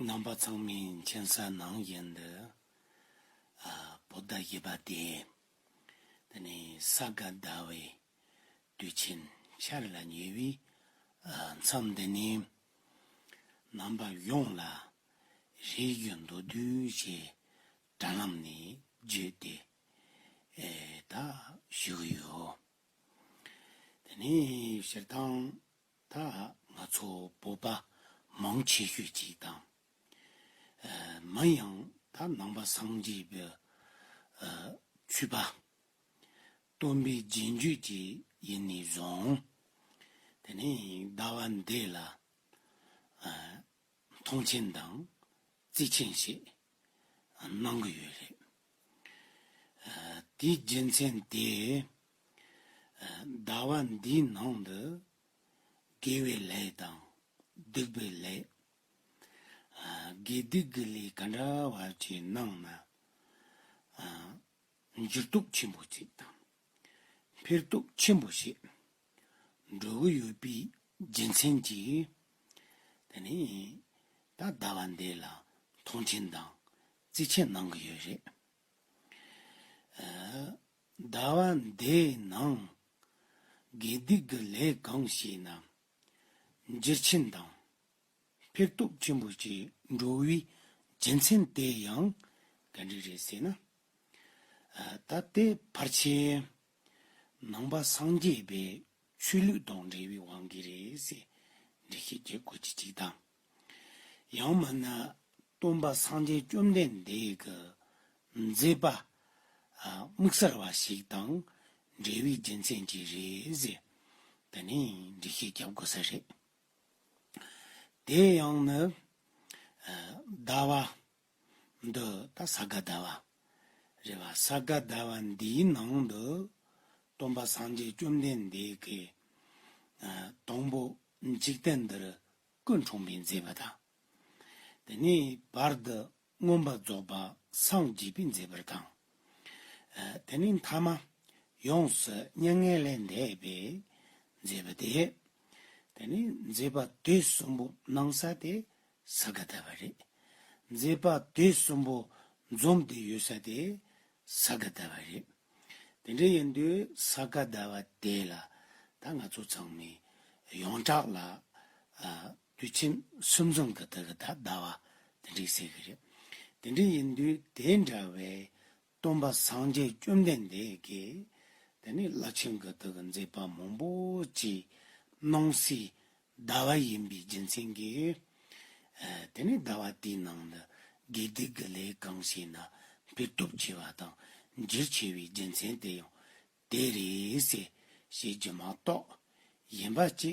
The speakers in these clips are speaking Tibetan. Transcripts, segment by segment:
རྣམ་པ་ཚང་མའི་མཁྱེན་གསལ་ནང་བཞིན་དུ། བོད་ཟླ་བཞི་པ་དེ་དེ་ནི་ས་ག་ཟླ་བའི་དུས་ཆེན་འཆར་ལ་ཉེ་བའི་མཚམས་འདི་ནས། རྣམ་པ་ཡོངས་ལ་རིས་རྒྱུད་མདོར་བསྡུས་ཀྱི་དྲ་ལམ་ནས་བརྒྱུད་དེ་དག་ཞུ་གི་ཡོད། དེ་ནས་སྤྱིར་བཏང་ད་ང་ཚོ་བོད་པ་མང་ཆེ་ཤོས་ཀྱིས་དང། མ་ཡང་ད་ནང་པ་སངས་རྒྱས་པའི་ཆོས་པ། སྟོན་པའི་རྗེས་འཇུག་ཅིག་ཡིན་ནས་བཟུང། དེ་ནས་ཟླ་བ་འདི་ལ། མཐོང་ཆེན་དང་བརྩི་ཆེན་ཞིག་གནང་གི་ཡོད་རེད། དེའི་རྒྱུ་མཚན་དེ། ཟླ་བ་འདིའི་ནང་དུ་དགེ་བའི་ལས་དང་སྡིག་པའི་ལས། དགེ་སྡིག་གི་ལས་ག་འདྲ་བ་ཅིག་གནང་ན། འགྱུར་ལྡོག་ཆེན་པོ་ཅིག་དང་འཕེལ་ལྡོག་ཆེན་པོ་ཞིག་འགྲོ་གི་ཡོད་པའི་རྒྱུ་མཚན་གྱིས། དེ་ནས་ད་ལྟ་བ་འདི་ལ་མཐོང་ཆེན་དང་རྩིས་ཆེན་གནང་གི་ཡོད་རེད། ཟླ་བ་འདིའི་ནང་དགེ་སྡིག་གི་ལས་གང་བྱས་ན་འགྱུར་ཆེན་དང་ཕེག་སྟོབས་ཆེན་པོ་ཞིག་འགྲོ་བའི་རྒྱུ་མཚན་དེ་ཡང་ག་འདྲས་རེད་ཟེར་ན། ད་ལྟའི་བར་ཆད། ནང་པ་སངས་རྒྱས་པའི་ཆོས་ལུགས་དང་འབྲེལ་བའི་དབང་གིས་རེད་ཟེར། འགྲེལ་བཤད་བརྒྱད་དགོས་ཀྱི་གཅིག་དང། ཡང་མིན་ན་སྟོན་པ་སངས་རྒྱས་བཅོམ་ལྡན་འདས་ཀྱི་མཛད་པ་དམིགས་བསལ་བ་ཞིག་དང་འབྲེལ་བའི་རྒྱུ་མཚན་གྱིས་རེད་ཟེར། འདི་ནི་འགྲེལ་བཤད་བརྒྱབ་དགོས་ས་རེད། དེ་ཡང་ནི། ཟླ་བ། འདི་དང་ས་ག་ཟླ་བ། རེད་བ་ས་ག་ཟླ་བ་འདིའི་ནང་དུ། སྟོན་པ་སངས་རྒྱས་བཅོམ་ལྡན་འདས་ཀྱི། དང་པོ་འཇིག་རྟེན་འདིར་ཀུན་འཁྲུངས་པའི་མཛད་པ་དང། དེ་ནས་བར་དུ་མངོན་པར་རྫོགས་པར་སངས་རྒྱས་པའི་མཛད་པར་དང། དེ་ནས་མཐའ་མ་ཡོངས་སུ་མྱ་ངན་ལས་འདས་པའི་མཛད་པ་དེ། དེ་ནས་མཛད་པ་དེ་གསུམ་པོ་སྣང་ས་དེ་ས་ག་ད་བ་རེད། མཛེས་པ་དེ་གསུམ་པོ་འཛོམས་ཏེ་ཡོད་ས་དེ་ས་ག་ད་བ་རེད། དེ་འདྲ་ཡིན་དུས་ས་ག་ད་བ་དེ་ལ་ད་ང་ཚོ་ཚང་མས་ཡོངས་གྲགས་ལ་དུས་ཆེན་གསུམ་འཛོམས་ག་ད་ག་ད་ད་བ་དེ་འདྲས་ཟེར་གི་རེད། དེ་འདྲས་ཡིན་དུས་དེ་འདྲ་བའི་སྟོན་པ་སངས་རྒྱས་བཅོམ་ལྡན་འདས་ཀྱིས་དེ་ནི་བླ་ཆེན་གི་ཐུགས་ཀྱི་མཛད་པ་མང་པོ་ཅིག་སྣང་སྲིད་ཟླ་བ་ཡིན་པའི་རྒྱུ་མཚན་གྱིས། དེ་ནས་ཟླ་བ་དེའི་ནང་དུ་དགེ་སྡིག་གི་ལས་གང་བྱས་ན་འཕེལ་སྟོབས་ཆེ་བ་དང་འགྱུར་ཆེ་བའི་རྒྱུ་མཚན་དེ་ཡང་དེ་རེད། ཞེས་རྒྱུ་མ་གཏོགས་གཞན་པ་ཅི་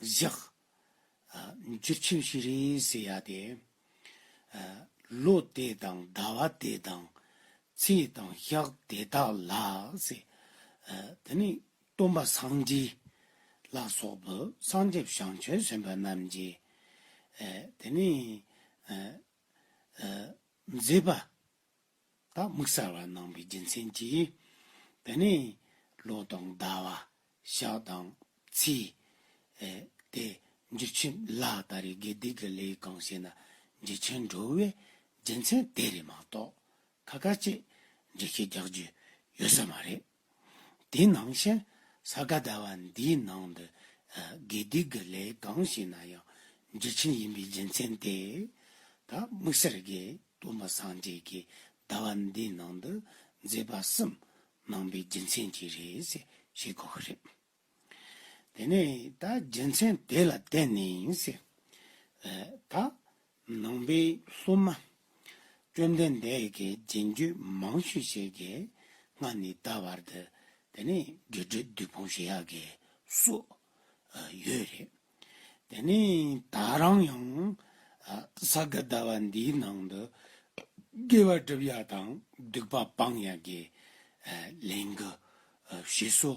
བཞག། འཇིགས་ཆེན་བཞི་རིང་བསྲེལ་ཡ་དེ། ལོ་དེ་དང་ཟླ་བ་དེ་དང་ཚེས་དང་ཞག་དེ་དག་ལ། དེ་ནས་སྟོན་པ་སངས་རྒྱས་ལ་སོགས་པའི་སངས་རྒྱས་ཞིང་ཆེན་གསུམ་པ་རྣམས་ཀྱིས། དེ་ནས། མཛེས་པ་བདག་དམིགས་གསལ་བར་སྣང་བའི་རྒྱུ་མཚན་གྱིས། དེ་ནས་ལོ་དང་ཟླ་བ་ཞག་དང་ཚེས། དེ་འཇུ་ཆེན་ལ་ལྟ་རེ་དགེ་སྡིག་གི་ལས་གང་བྱས་ན་འཇུ་ཆེན་འགྲོ་བའི་རྒྱུ་མཚན་དེ་རེད་མ་གཏོགས་ཁ་ཁ་ཅིག་འཇུ་ཆེན་རྒྱག་རྒྱུ་ཡོད་ས་མ་རེད། དེ་ནང་བཞིན་ས་ག་ཟླ་བ་འདིའི་ནང་དུ་དགེ་སྡིག་གི་ལས་གང་བྱས་ན་ཡང་འཇིགས་ཆེན་ཡིན་པའི་རྒྱུ་མཚན་དེས་ད་དམིགས་བསལ་དགེ་སྟོན་པ་སངས་རྒྱས་ཀྱི་ཟླ་བ་འདིའི་ནང་དུ་མཛད་པ་གསུམ་གནང་པའི་རྒྱུ་མཚན་གྱིས་རེད་ཅེས་བཤད་དགོས་ཀྱི་རེད། དེ་ནས་ད་རྒྱལ་མཚན་དེ་ལ་བསྟན་ནས། ད་ནང་པའི་སློབ་མ། བཅོམ་ལྡན་འདས་ཀྱིས་རྗེས་འཇུག་མང་ཤོས་ཤིག་གིས་སྔར་ནས་ད་བར་དུ། དེ་ནས་རྒྱུ་འབྲས་བདུད་དཔུང་བཞི་ཡག་གི་སུ། ཡོད་རེད། དེ་ནས་ད་རང་ཡང་ས་ག་ཟླ་བ་འདིའི་ནང་དུ་དགེ་བ་སྒྲུབ་ཡ་དང་སྡིག་པ་སྤང་ཡ་གི་ལན་གུ་ཞིག་སུ་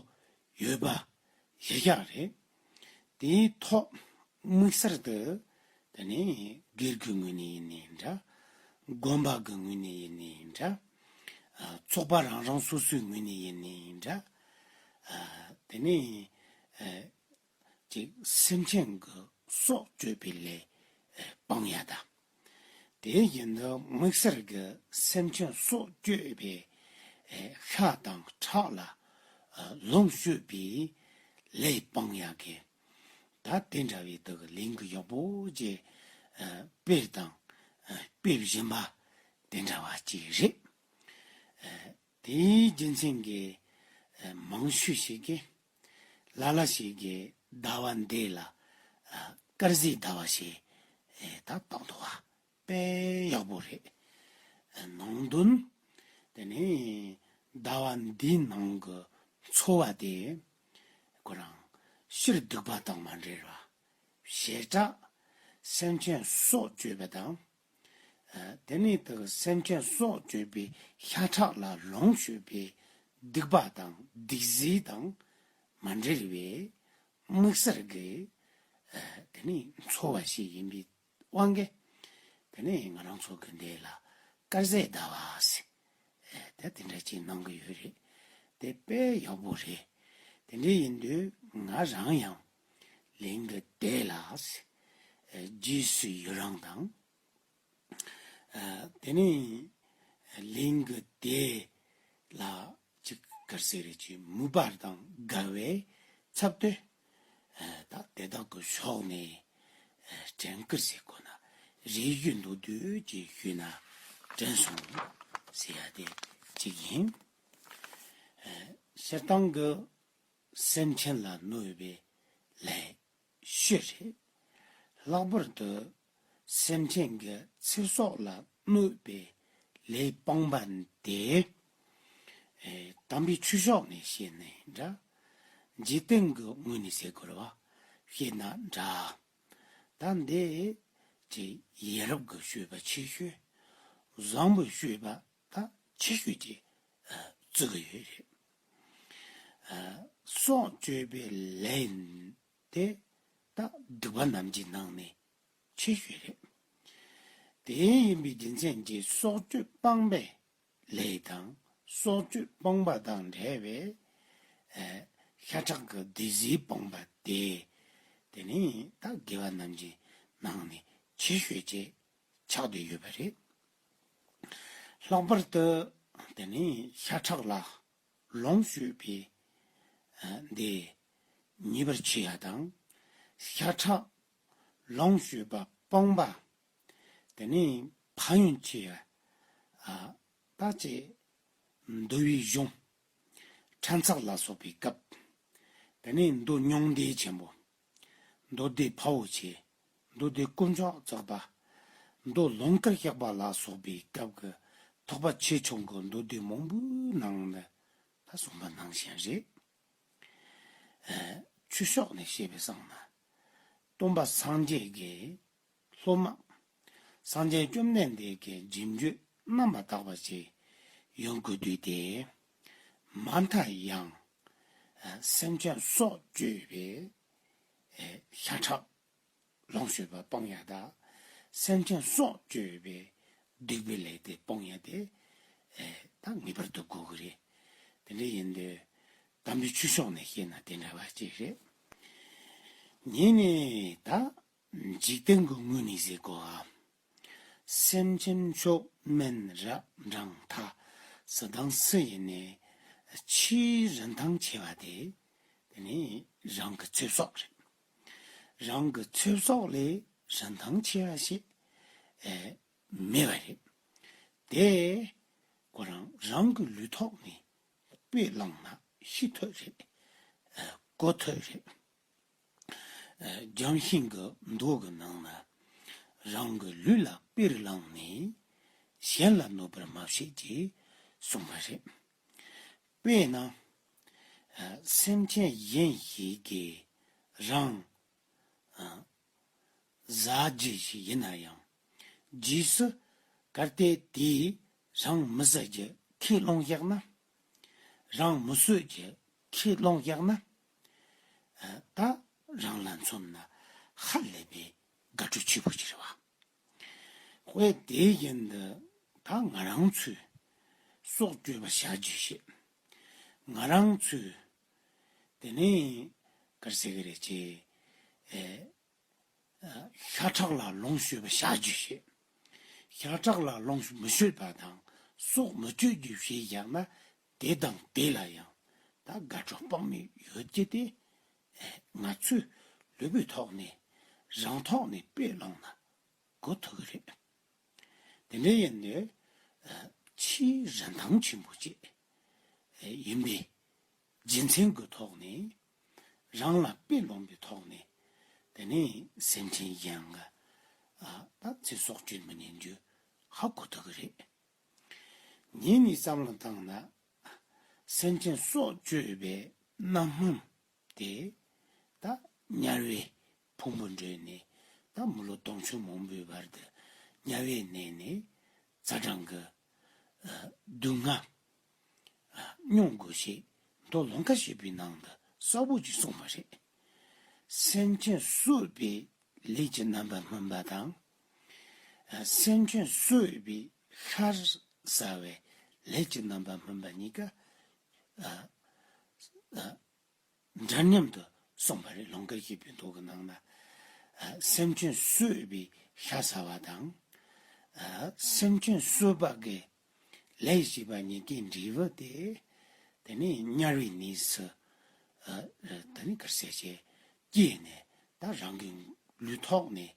ཡོད་པ་ཤེས་ཤ་རེད། དེའི་ཐོག་དམིགས་གསར་དུ་དེ་ནས་སྒེར་གི་ངོས་ནས་ཡིན་ནའི་འདྲ། དགོན་པ་གི་ངོས་ནས་ཡིན་ནའི་འདྲ། ཚོགས་པ་རང་རང་སོ་སོའི་ངོས་ནས་ཡིན་ནའི་འདྲ། དེ་ནས་ཅིག་སེམས་ཅན་གྱི་སྲོག་གཅོད་པའི་ལས་སྤང་ཡང་དང། དེ་བཞིན་དུ་མིག་སེར་གྱི་སེམས་ཅན་སྲོག་གཅོད་པའི་ཤ་དང་ཁྲག་ལ་ལོངས་སྤྱོད་པའི་ལས་སྤང་ཡང་གི། ད་དེ་འདྲ་བའི་དག་གི་ལིང་གི་ཡོག་པོ་ཅེས་དཔེར་དང་དཔེ་བཞིན་པ་དེ་འདྲ་བ་ཅིག་རེད། དེའི་རྒྱུ་མཚན་གྱིས་མང་ཤོས་ཤིག་གིས། ལ་ལ་ཞིག་གི་ཟླ་བ་འདི་ལ་དཀར་གཟིག་ཟླ་བ་ཞེས་ད་གཏོགས་འདུག་བ་དཔེ་ཡག་པོ་རེད། ནང་དོན། དེ་ནི་ཟླ་བ་འདི་ནང་གི་འཚོ་བ་དེ་ཁོ་རང་ཕྱིར་སྡུག་པ་དང་མ་འབྲེལ་བར་ཞེ་དྲགས་སེམས་ཅན་སྲོག་གཅོད་པ་དང་དེ་ནི་བདག་གི་སེམས་ཅན་སྲོག་གཅོད་པའི་ཤ་ཁྲག་ལ་ལོངས་སྤྱོད་པའི་སྡིག་པ་དང་སྡིག་གཟིགས་དང་མ་འབྲེལ་བའི་དམིགས་བསལ་གྱི་དེ་ནི་འཚོ་བ་ཞིག་ཡིན་པའི་དབང་གིས་དེ་ནི་ང་རང་ཚོ་གི་འདི་ལ་དཀར་ཟས་ཟླ་བ་ཟེར་དེ་དེ་འདྲ་ཅིག་གནང་གི་ཡོད་རེད་དེ་དཔེ་ཡག་པོ་རེད་དེ་འདྲའི་ཡིན་དུས་ང་རང་ཡང་ལིང་གི་སྡེ་ལ་རྗེས་སུ་ཡི་རང་དང། དེ་ནས་ལིང་གི་སྡེ་ལ་ཅི་དགར་ཟེར་རེ་ཅིག་མུ་པར་དང་དགའ་བའི་ཚབ་ཏུ་དག་དེ་དག་གི་ཕྱོགས་ནས་དྲན་དཀར་ཟེར་དགོས་ན་རེ་རྒྱུ་འདུག་དུས་ཀྱི་ཤུལ་ན་དྲན་སོང་ཟེར་ཡ་དེ་གཅིག་ཡིན། ཤེར་སྟོང་གི་སེམས་ཅན་ལ་གནོད་པའི་ལས་བཤོས་རེད། ལྷག་པར་དུ་སེམས་ཅན་གྱི་ཚེ་སྲོག་ལ་གནོད་པའི་ལས་སྤངས་པ་དེ། དམ་པའི་ཆོས་ཕྱོགས་ནས་བཤད་ནའི་འདྲ། རྗེ་བསྟན་གྱི་ངོས་ནས་ཟེར་དགོས་པ་བཤད་ན་འདྲ། ད་འདི་ཀྱི་ཡེ་རབས་ཀྱི་བཤོས་པ་ཆེ་ཤོས་བཟང་པོའི་བཤོས་པ་དང་ཆེ་ཤོས་ཀྱི་བརྩི་གི་ཡོད་རེད། སྲོག་གཅོད་པའི་ལས་དེ་དག་སྒྲིག་པ་རྣམས་ཀྱི་ནང་ནས་ཆེ་ཤོས་རེད། དེ་ཡིན་པའི་རྒྱུ་མཚན་གྱིས་སྲོག་གཅོད་སྤངས་པའི་ལས་དང་སྲོག་གཅོད་སྤངས་པ་དང་འབྲེལ་བའི་ཤ་ཁྲག་གི་སྡེ་གཟིགས་སྤངས་པ་དེ་དེ་ནི་ད་གེ་བ་རྣམས་ཀྱི་ནང་ནས་ཆེ་ཤོས་བཅས་ཆགས་བསྡད་ཡོད་པ་རེད། ལྷག་པར་དུ་དེ་ནི་ཤ་ཁྲག་ལ་ལོངས་སྤྱོད་པའི་སྡེ་ཉེས་པར་ཆེ་ཡ་དང། ཤ་ཁྲག་ལོངས་སྤྱོད་པ་སྤོང་པ་དེ་ནི་ཕ་ཡོན་ཆེ་ཡ་ད་ཅེས་འདུལ་བའི་གཞུང། ཕྲན་ཚགས་ལ་སོགས་པའི་སྐབས་དེ་ནི་འདུལ་མྱོང་འདས་ཆེན་པོ། མདོ་སྡེ་བྷ་བོ་ཆེ། མདོ་སྡེ་དཀོན་མཆོག་རྫོགས་པ། མདོ་ལོངས་དཀར་ཤག་པ་ལ་སོགས་པའི་སྐབས་ཀྱི་ཐོག་པ་ཆེ་ཆུང་གི་མདོ་སྡེ་མང་པོའི་ནང་ནས་ད་གསུངས་པ་ནང་བཞིན་རེད། ཆོས་ཕྱོགས་ནས་བཤད་པའི་གསང་སྔགས། སྟོང་པ་སངས་རྒྱས་ཀྱི་སློབ་མ། གསང་ཆེན་བཅོམ་ལྡན་འདས་ཀྱི་སྦྱིན་སྤྱོད་རྣམ་པར་དག་པ་བྱས། ཡོན་དགུ་འདུས་ཏེ། མ་མཐའ་ཡང། སེམས་ཅན་སྲོག་གཅོད་པའི། ཤ་ཁྲག། ལོངས་སྤྱོད་པ་སྤོང་ཡང་དག། སེམས་ཅན་སྲོག་གཅོད་པའི། སྡིག་པའི་ལས་དེ་སྤོང་ཡང་དེ། དང་ངེས་པར་དུ་དགོས་ཀྱི་རེད། དེ་འདྲ་ཡིན་དུས། དམ་པའི་ཆོས་ཕྱོགས་ནས་བཤད་ན་དེ་འདྲ་བ་ཅིག་རེད། ངས་ནི་ད། འཇིག་རྟེན་གྱི་དངོས་ནི་གཟིགས་གོ། སེམས་ཅན་མཆོག་དམན་རབ་འབྲང་མཐའ། ས་དང་སུ་ཡི་ནི་ཕྱིའི་རིན་ཐང་ཆེ་བ་དེ། དེ་ནི་རང་གི་ཚེ་སྲོག་རེད། རང་གི་ཚེ་སྲོག་ལས་རིན་ཐང་ཆེ་བ་ཞིག་མེད་པ་རེད། དེ་ཁོ་རང་རང་གི་ལུས་ཐོག་ནས་དཔེ་བླངས་ན་ཤི་འཐོད་རེད། གོ་འཐོད་རེད། ལྗོན་ཤིང་གི་མདོག་གི་ནང་ན། རང་གི་ལུས་ལ་དཔེར་བླངས་ནས་གཞན་ལ་གནོད་པར་མ་བྱེད་ཅེས་གསུངས་པ་རེད། དཔེར་ན། སེམས་ཅན་གཞན་ཞིག་གིས་རང། བཟའ་རྒྱུ་ཞིག་ཡིན་ན་ཡང། རྗེས་སུ་གར་སྟེ་དེས་རང་མི་བཟའ་རྒྱུ་ཁས་བླངས་བཞག་ན། རང་མི་གསོད་རྒྱུ་ཁས་བླངས་བཞག་ན། ད་རང་ལ་མཚོན་ན་ཧ་ལས་པའི་དགའ་སྤྲོ་ཆེ་པོ་ཞིག་རེད་བ། ཝེ་དེའི་རྐྱེན་དུ་ད་ང་རང་ཚོས་སྲོག་གཅོད་པ་བྱ་རྒྱུ་ཞིག་ང་རང་ཚོས་དེ་ནས་གར་ཟེར་གི་རེད་ཅེས་ཤ་ཁྲག་ལ་ལོངས་ཤོད་པ་བྱ་རྒྱུ་ཞིག་ཤ་ཁྲག་ལ་ལོངས་མི་ཤོད་པ་དང་སྲོག་མི་གཅོད་རྒྱུ་ཞིག་བཞག་ན་དེ་དང་དེ་ལ་ཡང་ད་དགའ་སྤྲོ་དཔག་མེད་ཡོད་ཀྱི་སྟེ། ང་ཚོས་ལུས་པོའི་ཐོག་ནས་རང་ཐོག་ནས་དཔེ་བླངས་ན་གོ་ཐུབ་ཀྱི་རེད། དེ་འདྲ་ཡིན་ནི་ཕྱིའི་རིན་ཐང་ཆེན་པོ་བཅས་ཡིན་པས་རྗེས་མཚན་གྱི་ཐོག་ནས་རང་ལ་དཔེ་ལོངས་པའི་ཐོག་ནས་དེ་ནི་སེམས་ཁྲལ་ཡིན་ལ་ད་ཚེ་སྲོག་གཅོད་མི་ཉན་རྒྱུ་ཧ་གོ་ཐུབ་ཀྱི་རེད། ཉིད་ནི་བསམ་བློ་བཏང་ན། སེམས་ཅན་སྲོག་གཅོད་པའི་རྣམ་སྨོན་དེ་ད་དམྱལ་བའི་ཕུང་པོ་འབྲོས་ནས་ད་མི་ལོ་སྟོང་ཕྱུར་མང་པོའི་བར་དུ་དམྱལ་བའི་གནས་ནས་རྩ་སྦྲང་གི་སྡུག་བསྔལ་མྱོང་དགོས་ཞེས་མདོ་ལོ་འགའ་ཞིག་པའི་ནང་དུ་གསར་བུ་ཅིག་གསུངས་པ་རེད། སེམས་ཅན་གསོད་པའི་ལས་ཀྱི་རྣམ་པ་སྨོན་པ་དང། སེམས་ཅན་གསོད་པའི་ཤར་ཟ་བའི་ལས་ཀྱི་རྣམ་པ་སྨོན་པ་གཉིས་ཀ་འདྲ་མཉམ་དུ་གསུངས་པ་རེད་ལུང་དཀར་གྱི་བོན་ཐུགས་ཀྱི་ནང་ན་སེམས་ཅན་གསོད་པའི་ཤ་ཟ་བ་དང། སེམས་ཅན་གསོད་པ་དགེ། ལས་བཞི་པ་ཉི་ཏིག་འབྲས་བུ་སྟེ། དེ་ནས་དམྱལ་བའི་གནས་སུ་དེ་ནས་གར་སྐྱེས་བྱས། སྐྱེས་ནས་ད་རང་གི་ལུས་ཐོག་ནས་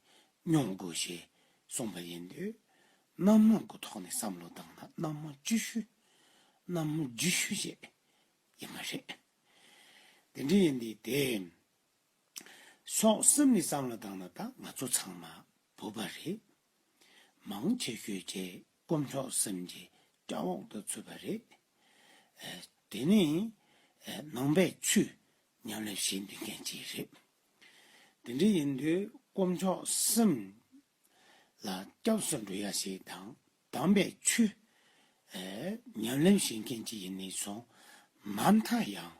མྱོང་དགོས་ཞེས་གསུངས་པ་ཡིན། དུས་རྣམ་སྣང་གི་ཐོག་ནས་བསམ་བློ་བཏང་ན་རྣམ་མང་བཅུ་ཤུ། རྣམ་མང་བརྒྱུད་ཤུ་བཅས་ཡིན་པ་རེད། དེ་འདྲ་ཡིན་དུས་དེ་སོགས་གསུམ་ནས་བསམ་བློ་བཏང་ན་ད་ང་ཚོ་ཚང་མ་བོད་པ་རེད། མང་ཆེ་ཤོས་བཅས་དཀོན་མཆོག་སེམས་ཀྱི་སྐྱ་འོག་ཏུ་ཚུད་པ་རེད། དེ་ནི་ནང་པའི་ཆུས་ཉམས་ལེན་བྱེད་འདོད་མཁན་གཅིག་རེད། དེ་འདྲ་ཡིན་དུས་དཀོན་མཆོག་སེམས་ལ་སྐྱབས་སུ་འགྲོ་ཡ་ཞིག་དང་དམ་པའི་ཆུས་ཉམས་ལེན་བྱེད་མཁན་གཅིག་ཡིན་ནི་སོང་མ་མཐའ་ཡང་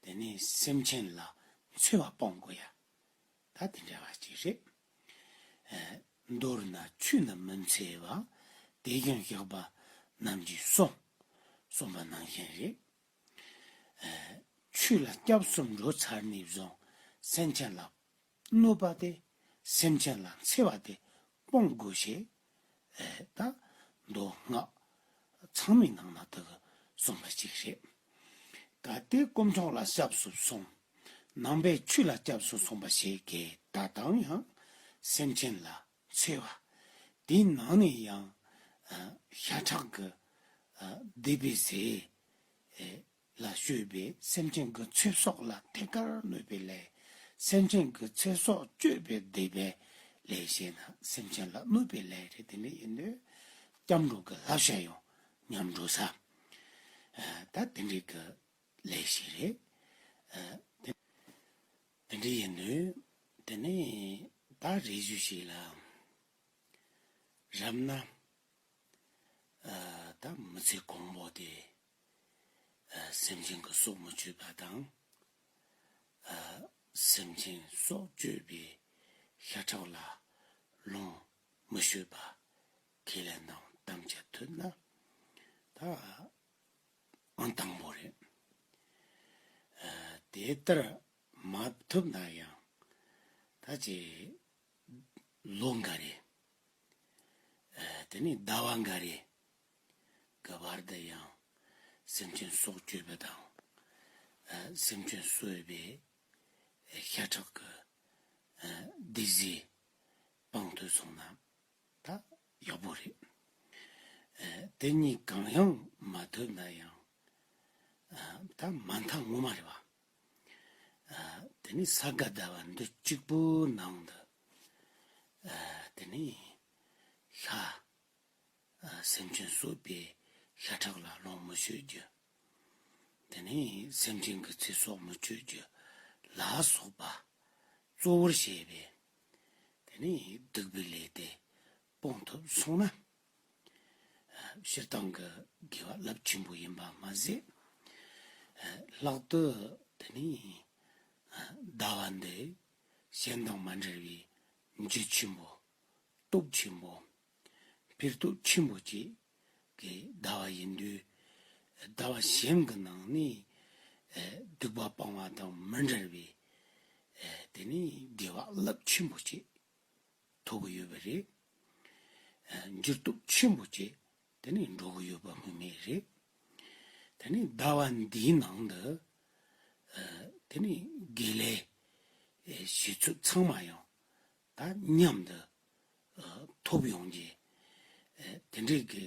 དེ་ནི་སེམས་ཅན་ལ་འཚེ་བ་སྤང་དགོས་ཡ་ད་དེ་འདྲ་བ་ཅིག་རེད། མདོར་ན་ཆུ་རྣམས་མི་འཚེ་བ། དེ་ཀྱང་གཤེགས་པ་རྣམས་ཀྱིས་གསུངས། གསུངས་པ་ནང་བཞིན་རེད། ཆུ་ལ་སྐྱབས་གསུམ་འགྲོ་ཚར་ནས་བཟུང་སེམས་ཅན་ལ་གནོད་པ་སྟེ་སེམས་ཅན་ལ་འཚེ་བ་དེ་སྤོང་དགོས་ཞེས་དང། མདོ་སྔགས་ཚང་མའི་ནང་ན་དག་གསུམ་ལ་གཅིག་རེད། ད་ལྟའི་དཀོན་མཆོག་ལ་སྐྱབས་སུ་སོང། ནང་པའི་ཆོས་ལ་སྐྱབས་སུ་སོང་པ་ཞེས་གའི་སྒྲ་གདངས་ཡང་སེམས་ཅན་ལ་འཚེ་བ། དེའི་ནང་ནས་ཡང་ཤ་ཁྲག་གི་སྡིག་པའི་ཟས། ལ་སྤྱོད་པའི་སེམས་ཅན་གྱི་ཚེ་སྲོག་ལ་ཐད་ཀར་གནོད་པའི་ལས། སེམས་ཅན་གྱི་ཚེ་སྲོག་གཅོད་པའི་སྡིག་པའི་ལས་བྱས་ན་སེམས་ཅན་ལ་གནོད་པའི་ལས་རེད་དེ་འདྲ་ཡིན་དུས། སྐྱབས་འགྲོ་གི་བསླབ་བྱ་ཡང་ཉམས་འགྲོ་ས་ད་དེ་འདྲའི་གི་ལས་ཤིག་རེད། དེ་འདྲ་ཡིན་དུས་དེ་ནས་ད་རེ་བཞུགས་ཤིག་ལ་རབ་ན། ད་མི་ཚེ་གོང་འོག་དེ། སེམས་ཅན་གྱི་སྲོག་མི་གཅོད་པ་དང། སེམས་ཅན་སྲོག་གཅོད་པའི་ཤ་ཁྲག་ལ་ལོངས་མི་སྤྱོད་པ། ཁས་ལེན་དང་གཏམ་འཆལ་ཐོས་ན་ད་ཨང་དང་པོ་རེད། དེ་ལྟར་མ་ཐུབ་ན་ཡང་ད་ཅི་ལོ་འགའ་རེ། དེ་ནས་ཟླ་བ་འགའ་རེ་གི་བར་དུ་ཡང། སེམས་ཅན་སྲོག་གཅོད་པའི་དང། སེམས་ཅན་གསོད་པའི། ཤ་ཁྲག་གི། སྡིག་བཟའི། དཔང་དུ་སོང་ན། ད་ཡག་པོ་རེད། དེ་གཉིས་གང་ཡང་མ་ཐོབ་ན་ཡང། ད་མ་མཐའ་ངོ་མ་རེད་བ། དེ་ནས་ས་ག་ཟླ་བ་འདི་གཅིག་པོའི་ནང་དུ། དེ་ནས། ཤ་སེམས་ཅན་གསོད་པའི་ཤ་ཁྲག་ལ་ལོངས་མི་སྤྱོད་རྒྱུ། དེ་ནས་སེམས་ཅན་གྱི་ཚེ་སྲོག་མི་གཅོད་རྒྱུ་ལ་སོགས་པ་གཙོ་བོར་བྱས་པས། དེ་ནས་སྡིག་པའི་ལས་དེ་སྤོང་ཐུབ་གསུངས་ན། སྤྱིར་བཏང་གི་དགེ་བ་རླབས་ཆེན་པོ་ཡིན་པ་མ་ཟད། ལྷག་ཏུ་དེ་ནས་ཟླ་བ་འདི་གཞན་དང་མ་འབྲེལ་བའི་འཇིགས་ཆེན་པོ། སྟོབས་ཆེན་པོ། པིར་རྟུག་ཆེན་པོ་གཅིག་གིས་བཟླ་བ་ཡིན། དུས་བཟླ་བ་གཞན་གྱི་ནང་ནས་བདུག་པ་སྤང་བ་དང་མི་འབྲལ་བས། དེ་ནི་དགེ་བ་རླབས་ཆེན་པོ་གཅིག་ཐོབ་ཀྱི་ཡོད་པ་རེད། འགྱུར་རྟུག་ཆེན་པོ་གཅིག་དེ་ནི་འགྲོ་གི་ཡོད་པ་སྨོས་མེད་རེད། དེ་ནི་བཟླ་བ་འདིའི་ནང་དུ། དེ་ནི་དགེ་ལས་བྱེད་ཚུལ་ཚང་མ་ཡང་དང་མཉམ་དུ་ཐོབ་ཡོང་རྒྱུ། དེ་འདྲའི་དགེ་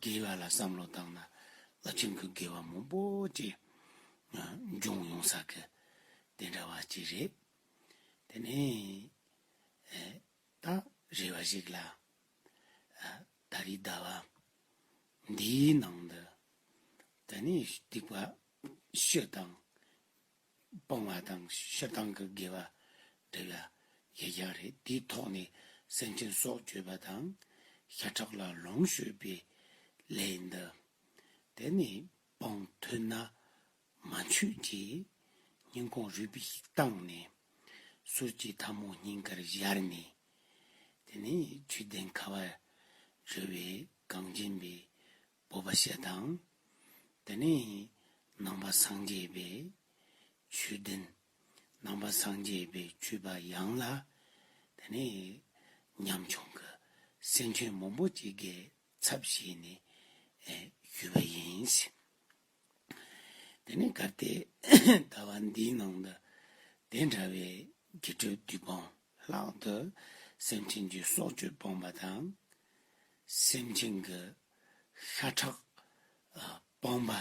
བའི་ལྷ་ལ་བསམ་བློ་བཏང་ན་རླབས་ཆེན་གྱི་དགེ་བ་མང་པོ་ཅིག་འབྱུང་ཡོང་ས་གི་དེ་འདྲ་བ་ཅིག་རེད། དེ་ནས་ད་རེ་བ་ཞིག་ལ། ད་རེའི་ཟླ་བ་འདིའི་ནང་དུ་དེ་ནས་སྡིག་པ་ཤོས་དང། སྤང་བ་དང་ཕྱི་བཏང་གི་དགེ་བ་འདི་ལ་གཞལ་བྱ་རེད་དེའི་ཐོག་ནས་སེམས་ཅན་སྲོག་གཅོད་པ་དང་ཤ་ཁྲག་ལ་ལོངས་སྤྱོད་པའི་ལས་འདི་དེ་ནས་སྤང་ཐུབ་ན་མ་འཆུག་ཅེས་སྙིང་ཁོང་རུས་པས་བཏང་ནས་གསུར་གྱི་ཐ་མོ་སྙིང་གར་གཞར་ནས་དེ་ནས་བཅུད་ལྡན་ཁ་བ་རི་བའི་གངས་ཅན་པའི་སྤོབས་པ་ཞེས་དང། དེ་ནས་ནང་པ་སངས་རྒྱས་པའི་ཆོས་བདུན། ནང་པ་སངས་རྒྱས་པའི་ཆོས་པ་ཡང་ལ། དེ་ནས་ཉམ་ཆུང་གི་སེམས་ཅན་མང་པོ་ཅིག་གི་ཚབ་བྱས་ནས་ཞུས་པ་ཡིན། དེ་ནས་སྐབས་དེ་ལྟ་བ་འདིའི་ནང་དུ་དེ་འདྲ་བའི་དགེ་སྤྲོས་བདུད་དཔང་ལྷག་ཏུ་སེམས་ཅན་གྱི་སྲོག་གཅོད་སྤངས་པ་དང། སེམས་ཅན་གྱི་ཤ་ཁྲག་སྤངས་པ་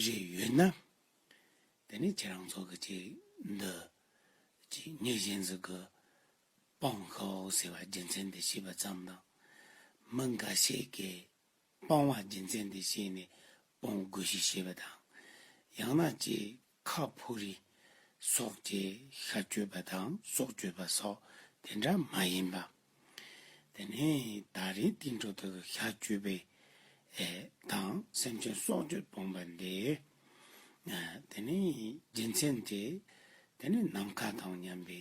རེ་ཡོད་ན། དེ་ནི་ཁྱེད་རང་ཚོ་གི་ཅིག་འདི་ཅིག་ཉིད་གཞན་ཚོས་གི་སྤང་ཤོག་ཟེར་བ་རྒྱུ་མཚན་དེ་ཤེས་པ་ཙམ་དང། མི་འགའ་ཤས་ཀྱིས་སྤང་བ་སྦྱིན་སྲེག་འདི་བྱས་ནས་སྤོང་དགོས་ཤིག་ཞེས་པ་དང། ཡང་ན་ཅེས་ཁ་ཕོ་རི། སོགས་ཅེས་ཤ་གཅོད་པ་དང་སྲོག་གཅོད་པ་སོགས་དེ་འདྲ་མ་ཡིན་པ། དེ་ནས་ད་རེས་ཏིང་འགྲོ་དག་གི་ཤ་གཅོད་པའི། དང་སེམས་ཅན་སྲོག་གཅོད་སྤོང་པ་འདི། དེ་ནས་སྦྱིན་སྲེག་འདི། དེ་ནས་ནམ་མཁའ་དང་མཉམ་པའི་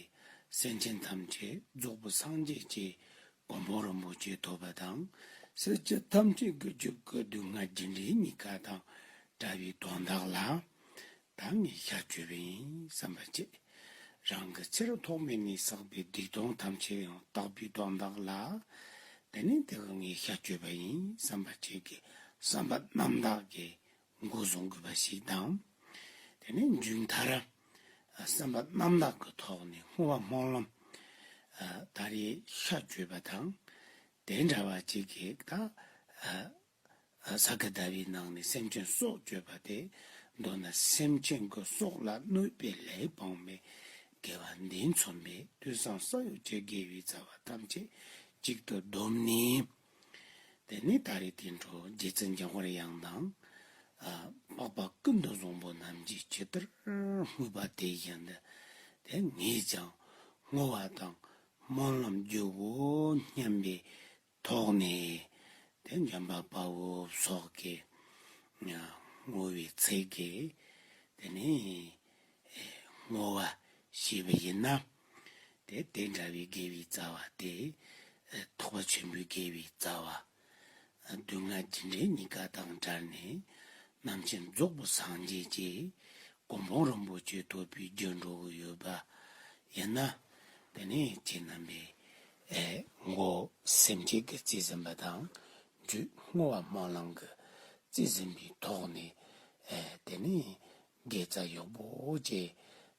སེམས་ཅན་ཐམས་ཅད་རྫོགས་པའི་སངས་རྒྱས་ཀྱི་སྒོ་མོ་རིན་པོ་ཆེ་ཐོབ་པ་དང་སྲིད་སྤྱི་ཐམས་ཅད་ཀྱི་རྒྱུ་སྐལ་སྡུག་བསྔལ་རྒྱུ་འབྲས་གཉིས་ཀ་དང་འདྲ་བའི་དོན་དག་ལ་ད་ངས་ཤ་གཅོད་པ་ཡིན་བསམ་པ་བཅད། རང་གི་ཕྱིར་ཐོག་མེད་ནས་བསགས་པའི་སྡིག་ལྟུང་ཐམས་ཅད་ཡང་དག་པའི་དོན་དག་ལ་དེ་ནས་དེ་ག་ངས་ཤ་གཅོད་པ་ཡིན་བསམ་པ་བཅད་ཀྱི་བསམ་པ་རྣམ་དག་གིས་མགོ་བཟུང་དགོས་པ་ཞིག་དང། དེ་ནས་མཇུག་མཐར། བསམ་པ་རྣམ་དག་གི་ཐོག་ནས་བསྔོ་བ་སྨོན་ལམ། ད་རེས་ཤ་བརྗོད་པ་དང་དེ་འདྲ་བ་ཅིག་གིས་དང། ས་ག་ཟླ་བའི་ནང་ནས་སེམས་ཅན་སྲོག་གཅོད་པ་དེ་མདོར་ན་སེམས་ཅན་གྱི་སྲོག་ལ་གནོད་པའི་ལས་སྤངས་པའི་དགེ་བ་འདི་མཚོན་པའི་དུས་སམ་ས་གཡོ་བྱེད་དགེ་བའི་རྩ་བ་ཐམས་ཅད་གཅིག་ཏུ་བསྡོམས་ནས། དེ་ནས་ད་རེས་དེ་འཕྲོ་རྒྱལ་བཙན་རྒྱལ་དབར་དབྱངས་དང། པགས་པ་ཀུན་ཏུ་བཟང་པོ་རྣམས་ཀྱི་སྤྱི་ལྟར་སྨོས་པ་དེ་བཞིན་དུ་དེ་ངས་ཀྱང་བསྔོ་བ་དང་སྨོན་ལམ་རྒྱུའོ་སྙམ་པའི་དོགས་ནས་དེ་འཇམ་པ་དཔའ་བོ་སོགས་ཀྱིས་བསྔོ་བའི་ཚིག་གིས་དེ་ནས་བསྔོ་བ་ཞུས་པ་ཡིན་ནམ། དེ་དེ་འདྲ་བའི་དགེ་བའི་རྩ་བ་སྟེ། ཐོགས་པ་ཆེན་པོའི་དགེ་བའི་རྩ་བ། སྡུག་བསྔལ་ཇི་འདྲའི་གཉིས་ཀ་དང་སྦྱར་ནས། རྣམ་མཁྱེན་རྫོགས་པོ་སངས་རྒྱས་ཀྱི། སྒོམ་སྤོང་རིན་པོ་ཆེ་ཐོབ་པའི་རྒྱུར་འགྲོ་གི་ཡོད་པ་ཡིན་ན། དེ་ནས་ཁྱེད་རྣམ་པས། མགོ། སེམས་བསྐྱེད་ཀྱི་རྩིས་ཟིན་པ་དང། རྒྱུད་བསྔོ་བ་སྨོན་ལམ་གྱི་རྩིས་ཟིན་པའི་ཐོག་ནས། དེ་ནས་དགེ་རྩ་ཡོག་པོ་བཅས་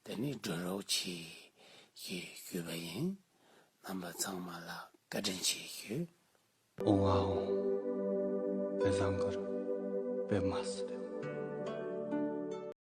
འདི་ནས་སྒྲོལ་རོགས་བྱེད་ཀྱི་ཡོད་པ་ཡིན། རྣམ་པ་ཚང་མ་ལ་བཀའ་དྲིན་ཆེ་ཞུ། ཝའོ། བེ་བཟང་གུར་བེ་མ་སི་བེ།